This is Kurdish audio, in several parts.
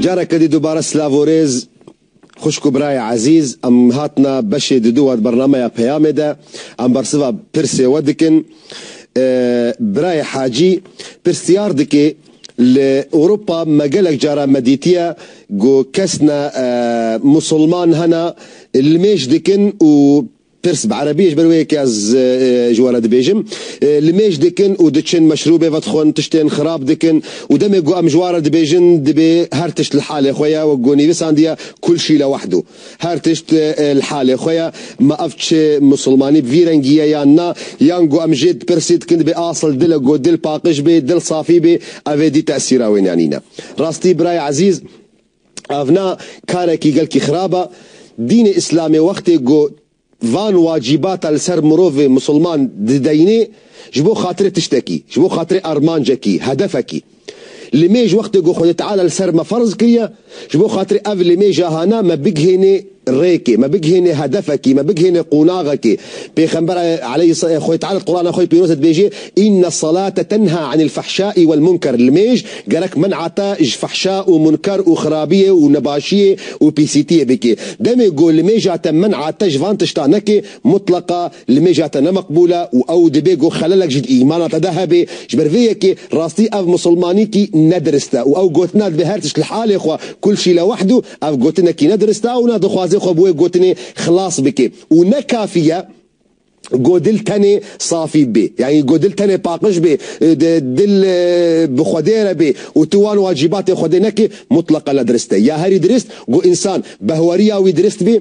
Careke dî dubare silav û rêz xwişk û birayê ezîz. Em hatine beşê didu we di bernameya Peyamê de. Em bersiva pirsê we dikin. Birayê Hacî pirsyar dike, Li Ewropa me gelek caran me dîtiye ku kes ne musilman hene li mêj dikin û Pirs bi erebî ji ber wê yekê ez ji wan re dibêjim. Li mêj dikin û diçin meşrûbê vedixwin, tiştên xirab dikin û demê ku em ji wan re dibêjin dibê her tişt li halê xwe ye, wek ku nivîsandiye kul şî le wahdu. Her tişt li halê xwe ye. Ma ev çi musulmanî bi vî rengî ye yan na? Yan ku em jê pirsî dikin dibê asl dil e ku dil paqij bê, dil safî bê, ev ê dî tesîra wê nîyanîne. Rastî birayê ezîz. Ev ne karekî gelkî xirab e. Dînê îslamê wextê ku van wacîbata li ser mirovê misilman dideyînê ji bo xatirê tiştekî, ji bo xatirê armancekî, hedefekî. Limêj wextê ku Xwedê Teala li ser me ferz kiriye, ji bo xatirê ev limêja hana me bigihênê, rêkê, me bigihênê hedefekî, me bigihênê qonaxekê. Pêxember aleyh Xwê Teala di Qurana xwe yê pîroz de dibêjê, Inne salate tenha anil fahşai wel munker li mêj gerek men'a te ji fahşa û munker û xirabiyê û nebaşiyê û pîsîtiyê bikê. Demê ku li mêja te men'a te ji van tiştan nekê, mutleqa li mêja te ne meqbûl e û ew dibê ku xelelek jî di îmana te de hebe. Ji ber vê yekê rastî ev misilmanîkî ne dirist e û ew gotina dibê her tişt li halê xwe kul şî le wahdu, Ev gotinekî ne dirist e û ne dixwaze xwe bi wê gotinê xilas bike û ne kafî ye ku dil tenê safî bê yanî ku dil tenê paqij bê, dil bi Xwedê re bê û tu wan wacîbatên Xwedê nekî, mutleqa ne dirist e. Ya herî dirist ku însan bi heweriya wî dirist bê,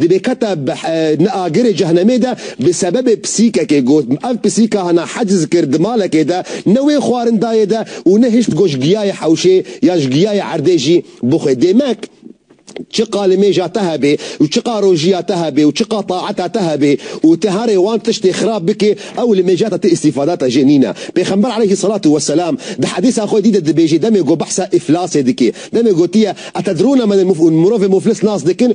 Di bêketa Ni Agirê Cehnemê de bi sebebê pisîkekê got, Ev pisîka hana heciz kir di malekê de, ne wê xwarindayê de û ne hişt goş giyayê hewşê ya ji giyayê erdê jî bixwe. Dêmek çi qa limêja te hebe û çi qa rojiya te hebe û çi qa taeta te hebe û ti herê wan tiştê xirab bikê, ew limêja te ti îstîfada te jê nîne. Pêxember aleyhî selatû we selam di hedîsa xwe dî de dibêje demê ku behsa îflasê dike, demê gotiye, Etedrûne men el-muflûs, mirovê muflis nas dikin?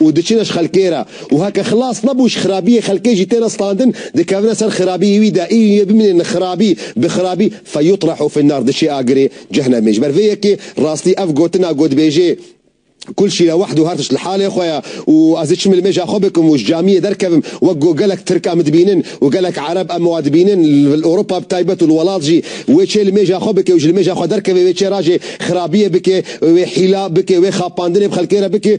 û diçine ji xelkê re û heke xilas nebû ji xirabiyê xelkê jî têne standin dikevine ser xirabiyê wî de iyû yê bimînê ne xirabî bi xirabî feyutrahu finnâr diçê agirê cehnemê ji ber vê yekê rastî ev gotina gotbêjê kul şî lewahdu her tişt li halê xwe ye û ez ê çi milmêja xwe bikim û ji camiyê derkevim wek ku gelek tirk em dibînin û gelek ereb em wan dibînin li ewropa bi taybet û li welat jî wê çê limêja xwe bikê û ji limêja xwe derkevê wê çê rajê xirabiyê bikê wê hîla bikê wê xapandinê bi xelkê re bikê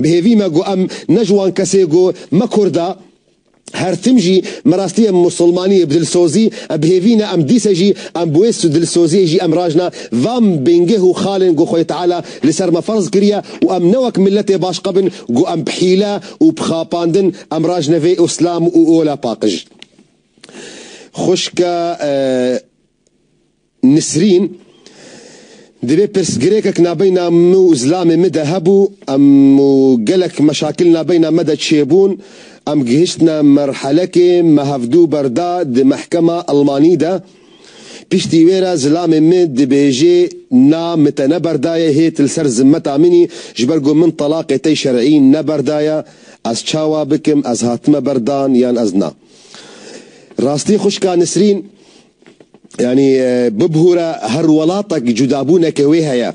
Bi hêvî me got em ne ji wan kesê got me kurd e. Her tim jî me rastiyê musulmaniyê bi dilsozî em bi hêvî ne em dîse jî em bi wê dilsoziyê jî em raş ne vam bingeh û xalên got xwedî teala li ser me ferz kiriye û em ne wek miletê baş qebin got em bi hîle û bi xapandin em raş ne vê uslam û ola paqij xwişke Nisrîn, Divê pirsgirêkek nabeyna min û zilamê min de hebû, em û gelek meşakil nabeyna me de çêbûn, em gihiştine merhelekê me hevdû berda di mehkema Elmanî de. Piştî wê re zilamê min dibêjê na min te ne berdaye hêt li ser zimmeta min î, ji ber ku min telaqê te şer'î ne berdaye, ez çawa bikim, ez hatime berdan yan ez na. Rastî xwişka Nisrîn, Yanî bibûre her welatek cudabûneke wê heye.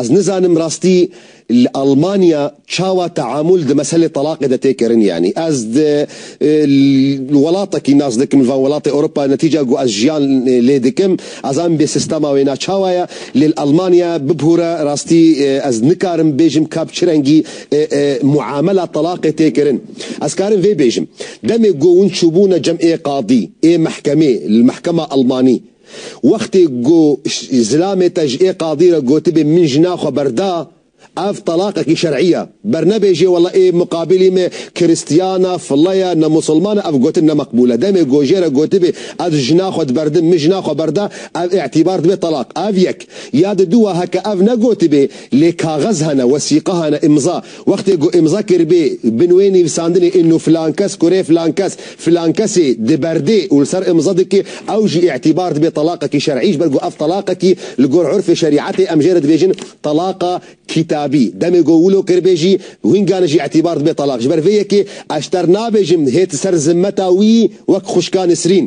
Ez nizanim rastî li Elmanya çawa teamûl di meselê telaqê de tê kirin. Yanî ez di welatekî nas dikim li van welatê Ewropa netîca ku ez jiyan lê dikim. Ez an bê sîstema wê na çawa ye. Lê li Elmanya bibûre rastî ez nikarim bêjim kap çi rengî muamela telaqê tê kirin. Ez karim vê bêjim. Demê go win çûbûne cem ê qadî, ê mehkemê, li mehkema elmanî. Wextê go zilamê te ji ê qadî re gotibê min jina xwe berda, ev telaqekî şer'î ye. Bernebêjê wela ê muqabîlî me kiristîyan e, file ye, ne musilman e, ev gotin ne meqbûl e. Demê go jê re gotibê ez jina xwe diberdim, min jina xwe berda, ev îtîbar dibe telaq. Ev yek. Ya di dû wa heke ev negotibê, lê kaxez hene, wesîqe hene, îmza. Wextê ku îmza kiribê bin wê nivîsandinê îno filan kes kurê filan kes filan kesê diberdê û li ser îmza dike ew jî îtîbar dibe telaqekî şer'î ji ber ku ev telaqekî li gor urfê şerî'etê em jê re dibêjin Telaqa kîtabî demê ku wilo kiribê jî wîngane jî îtîbar dibe telaq ji ber vê yekê eşter nabêjim hêt ser zimmeta wî wek xwişka Nisrîn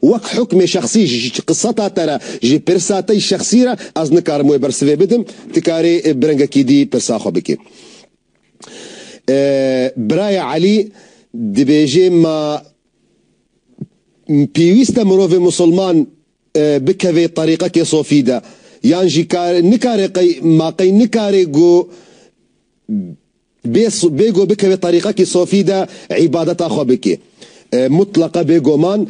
Wek hukmê şexsî ji qiseta te re, ji pirsa te yî şexsî re ez nikarim wê bersivê bidim, tu karê bi rengekî dî pirsa xwe bikî. Birayê Elî dibêjê ma pêwîst e mirovê misilman bikevê terîqekê sofî de yan jî nikare qey ma qey nikare ku Bêgo bikeve terîqekî sofî de îbadeta xwe bike. Mutleqe bêgoman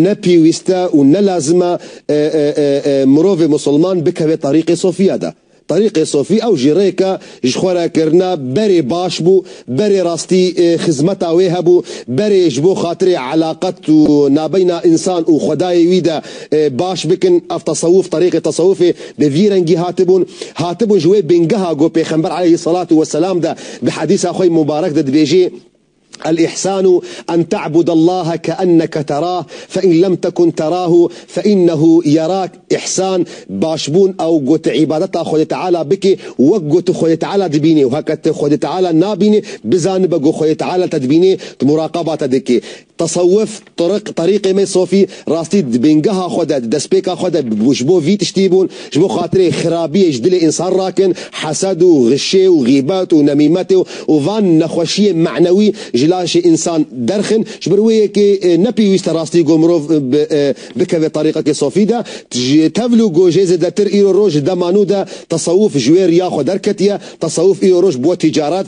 ne pîwîst e û ne lazim e mirovê musulman bikeve terîqê sofiya de. Terîqê sofî ew jî rêk e ji xwe re kirina berê baş bû, berê rastî xizmeta wê hebû, berê ji bo xatirê elaqet û nabeyna însan û xwedayê wî de baş bikin. Ev tesewuf, terîqê tesewufê bi vî rengî hatibûn. Hatibûn ji wê bîngeha ku Pêxember aleyhî selatu weselam de di hedîsa xwe yê mubarek de dibêjî, Elîhsanu en te'budallahe keenneke terah fein lem tekun terahu feinnehu yerak Îhsan, başbûn, ew ku tu îbadeta Xwedê Teala bikî wek ku tu Xwedê Teala dibînî û heke tu Xwedê Teala nabînî, bizanibe ku Xwedê Teala te dibînî, tu muraqaba te dikî. Tesewuf, Tiriq, Terîqê me Sofî, rastî di bîngeha xwe de, di destpêka xwe de ji bo vî tiştî bûn, ji bo xatirê xirabiyê ji dilê însan rakin, hesed û xişê û xîbet û nemîmetê û van nexweşiyên manewî ji laşê însan derxin. Ji ber wê yekê ne pêwîst e rastî ku mirov bikeve terîqekê Sofî de. Ji tevl û gojê zêdetir îro roj di dema nû de tesewuf ji wê riya xwe derketiye. Tesewuf îro roj bûye tîcaret.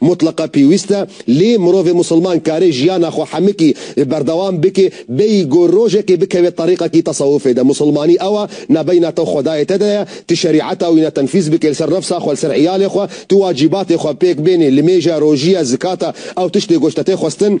Mutleqa pêwîst e, lê mirovê musilman karê jiyana xwe hemikî berdewam bike, bêyî ku rojekê bikeve terîqekî tesewufê de. Musilmanî ew e, ne beyna te û Xwedayê te de ye. Tu şerîeta wî ne tenfîz bike li ser nefsa xwe, li ser îyalê xwe. Tu wacîbatê xwe pêk bênê, limêje, rojîye, zikata, ew tiştê ku ji te tê xwestin.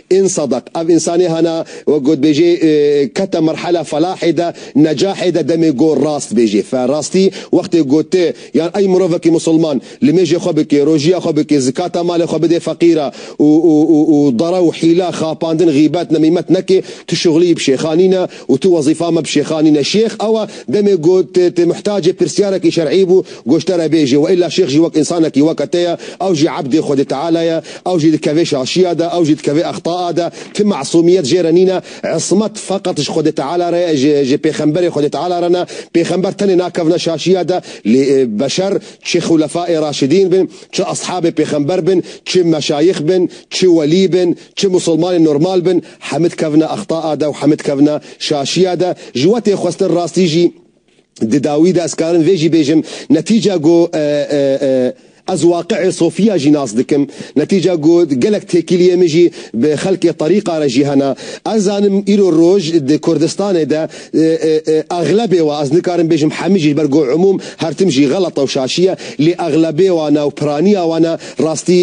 Ên Sadak, ev însanê hana wek gotbêjê kete merhela felahê de, necahê de demê got rast bêjê. Fe rastî wextê got ti yan ey mirovekî misilman limêjê xwe bikê, rojiya xwe bikê, zikata malê xwe bidê feqîra û û û û dara û hîla, xapandin, xîbet, nemîmet nekê, tu şixulî bi şêxanî ne, Û tu wezîfa me bi şêxan nîne. Şêx awa demê ku tu muhtacê pirsyarekî şer'î bû goş te re bêjê. Wa îlla şêx jî wek însanekî weke te ye. Ew jî ebdê Xwedê Teala ye. Ew jî dikevê şaşiya de. Ew jî dikevê extaa de. Ti mesûmiyet jê re nîne. Ismet feqet ji Xwedê Teala re ye. Ji pêxemberê Xwedê Teala re ne. Pêxember tenê nakevne şaşiya de. Lê beşer çi xûlefaê raşidîn bin, çi eshabê pêxember bin, çi meşayix bin, çi welî bin, Çi musulmanên normal bin heme dikevine axtaa de û heme dikevine şaşiya de. Ji we tê xwestin rastî jî di dawî de. Ez karin vê jî bêjim. Netîca ku ez waqiê sofiya jî nas dikim. Netîca ku gelek têkiliyê min jî bi xelkê terîqa re jî hene. Ez zanim îro roj di Kurdistanê de, Exlebê wa, ez nikarim bêjim hemî jî, ji ber ku umûm her tim jî xelet e û şaşî ye, lê exlebê wan e û piraniya wan e, rastî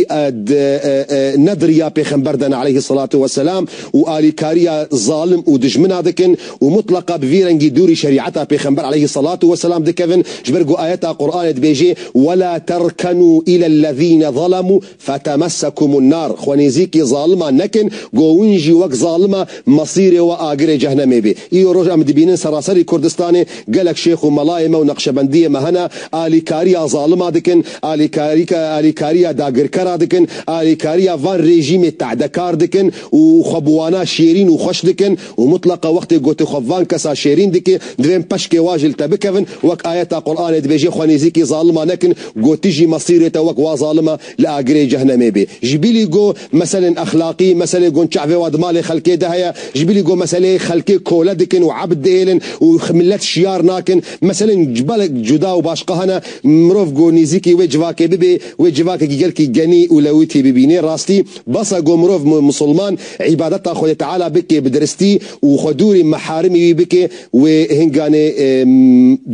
ne diriya pêxember de ne aleyhî selatu we selam û alîkariya zalim û dijmina dikin û mutleqa bi vî rengî dûrî şerîeta pêxember aleyhî selatu we selam dikevin, ji ber ku ayeta Quranê dibêjê, Wela terkenû îlellezîne zelemû. Fetemessekum nar, xwe nêzîkî zaliman nekin, go win jî wek zalim e, mesîrê we agirê cehnemê bê. Îro roj em dibînin seraserî Kurdistanê gelek şêx û melayê me û neqşebendiyê me hene, alîkariya zalima dikin, alîkariya dagirkera dikin, alîkariya van rejîmê te'dekar dikin û xwe bi wana şêrîn û xweş dikin, û mutleqa wextê gotê xwe van kesa şêrîn dikê, divên peşkê wa ji li te bikevin, wek ayeta Quranê dibêjê xwe nêzîkî zalima nekin, gotî jî mesîrê te wek wa zalim e li agirê cehnemê bê. Ji bîlî go meselên exlaqî, meselê gon çavê wa di malê xelkê de heye, ji bîlî go meseleyê xelkê kole dikin û ebd diêlin û milet şiyar nakin, meselên belek cuda û başqa hene, mirov go nêzîkî wê civakê bibê, wê civakekî gelkî genî û lewitî bibînê, rastî bes e go mirov musulman, îbadeta Xwedê Teala bike bi diristî û xwe dûrî meharimî wî bike, wê hinganê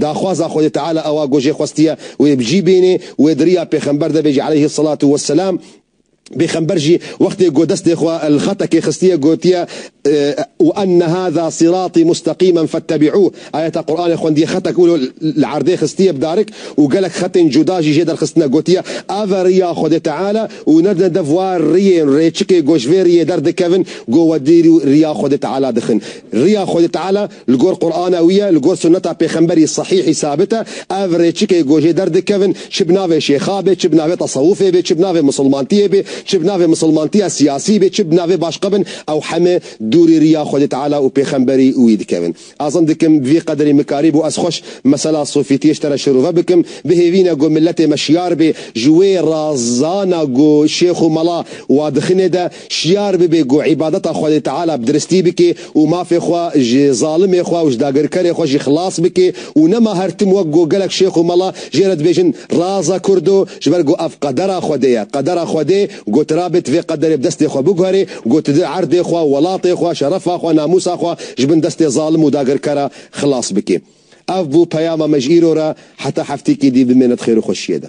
daxwaza Xwedê Teala ewa ku jê xwestiye wê bi cî bînê, wê di riya pêxember de bê jî aleyhî selatû weselam, pêxember jî wextê ku destê xwe li xetekê xistiye gotiye, Wa enne hâzâ sîratî mustaqîmen fettebî'ûh, ayeta Quranê xwendiye xetek û li erdê xistiye bi darik û gelek xetên cuda jî jê derxistine gotiye, Ev e riya Xwedê Teala. Û ne ne dev wa riyên rêçikê ku ji vê riyê derdikevin ku we dîr û riya Xwedê Teala dixin. Riya Xwedê Teala li gor Qur'ana wî ye, li gor sunneta pêxemberî sahîhî sabit e. Ev rêçikê ku jê derdikevin çi bi navê şêxa bê, çi bi navê tesewufê bê, çi bi navê misilmantiyê bê, çi bi navê misilmantiya siyasî bê, çi bi navê başka bin, ew heme dûrî riya Xwedê Teala û pêxemberî wî dikevin. Azin dikim vî qederî mikarî bû ez xweş mesela sofîtiyê ji te re şirove bikim, bihêvîne ku miletê me şiyar bê ji wê razana ku şêx û mala wa dixine de, şiyar bibê ku îbadeta Xwedê Teala bi diristî bikê û mafê xwe ji zalimê xwe û ji dagirkerê xwe jî xilas bikê û nema her tim wek ku gelek şêx û mala jê re dibêjin raza kurdo ji ber ku ev qedera Xwedê ye, qedera Xwedê. Ku tu rabit vê qederê bi destê xwe biguherî, ku tu di erdê xwe, welatê xwe, şerefa xwe, namûsa xwe ji bin destê zalim û dagirkera xilas bikî. Ev bû peyama me ji îro re, heta heftekî dî bimêne di xêr û xweşiyê de.